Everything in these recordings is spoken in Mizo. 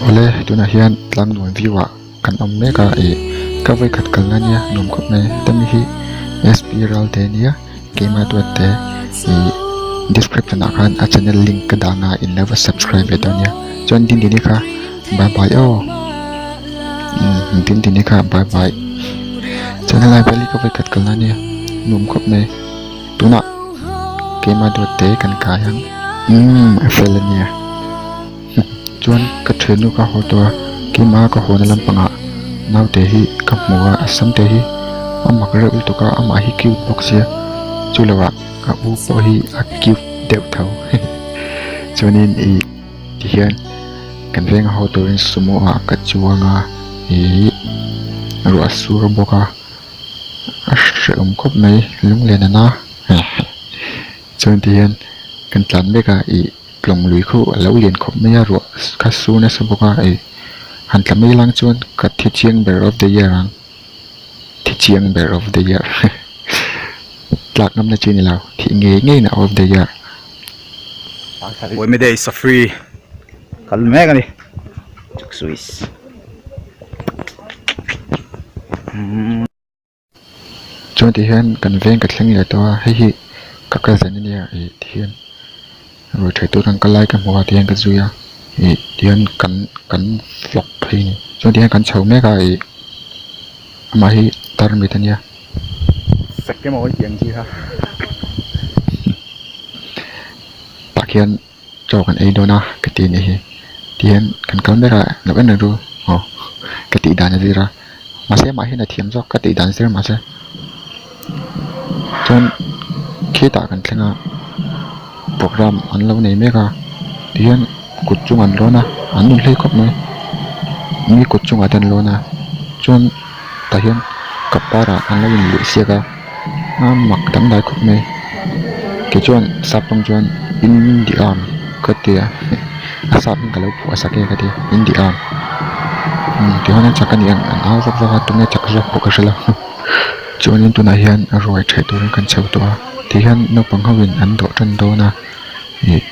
Awle tunah hian tlangnuam view ah kan awm mek a ih ka vawikhat kal nan nia nuam khawp mai hemi hi SP ral te nia keimah duat te ih description ah khan a channel link ka dan a in lo va subscribe ve tawh nia chuan din din i kha bye bye aw umm din din i kha bye bye chuan helai vel hi ka vawikhat kal nan nia nuam khawp mai. tunah keima duat te kan kai ang umm a fel a nia chuan ka thenu ka haw tawh a keima ka haw na lampang ah naute hi ka hmu a a sam te hi a mak reuh lutuk a amah hi cute bawk sia chu lo ah ka u pawh hi a cute deuh tho chuanin i tihian kan veng a haw turin sumo ah ka chuang a ihh ruah a sur bawk a. a hrilhawm khawp mai lunglen a na he he chuan ti hian kan tlan mek a ih tlawng lui kho a lo lian khawp mai a ruah kha su nasa bawk a ih han tla mai lang chuan ka thi chiang ber of the year ang thi chiang ber of the year he tlak ngam na chi ni lo thih ngei ngei na of the year. Chuan tih hian kan veng ka thleng leh tawh a hei hi ka kal zen a nia ih tih hian ruai tha tur an kal lai ka hmu a tih hian ka zui a ih tih hian kan kan flawk phei a ni chuan tih hian kan chho mek a ih amah hi tarmit a nia sakemaw a tiang chi kha tah khian-- chaw kan ei dawn a ka ti nih hi tihian kan kal ber a loh en reng chu aw ka tih dan a zir a mahse mah hian a thiam zawk ka tih dan zir mahse chuan khitah kan thleng a programme an lo nei mek a tihian kut chungah an lawn a an nun hlei khawp mai mi kut chungah te an lawn a chuan-- tah hian cup varah an lo in leh siak a aa mak dang dai khawp mai kei chuan sapawm chuan in dih a ka ti a a sap in ka lo phuh a sak e ka ti a in diha umm tichuan in chak a nih ang an au vak vak a tuna chak zawk pawh ka hre lo chuanin tunah hian ruai ṭheh turin kan chho tawh a tihian naupang ho in an dawhṭan dawn a ih--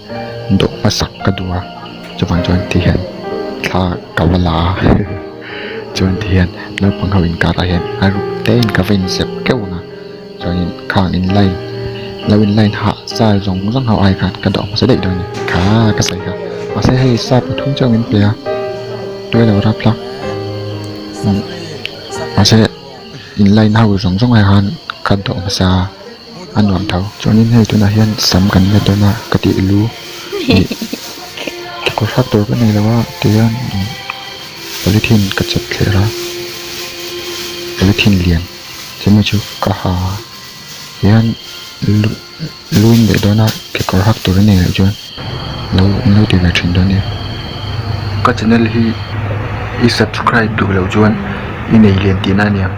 dawh hmasak ka duh a chuvang chuan ti hian thla ka va la a chuan ti hian naupang ho inkarah hian a ruk tein ka va inzep keuh ang a chuanin khang in line lo in line hah style zawng zawng ho ai khan ka dawh hmasa daih dawn in kha ka sawi kha mahse hei style pathum chiah awm in pe a tui lo rap hlak mahse in line ho zawng zawng ai khan ka dawh hmasa. a nuam tho chuanin hei tunah hian sam kan la dawn a ka tih lu ih kekawr hak tur ka nei lo a tihian imm polythene ka chep thler a polythene lian chumi chu ka ha a tihian lu luin leh dawn a kekawr hak tur a nei loh chuan lo lo ti ve thin dawn a ni ka channel hi i subscribe duh loh chuan i nei lian tihna a ni ang.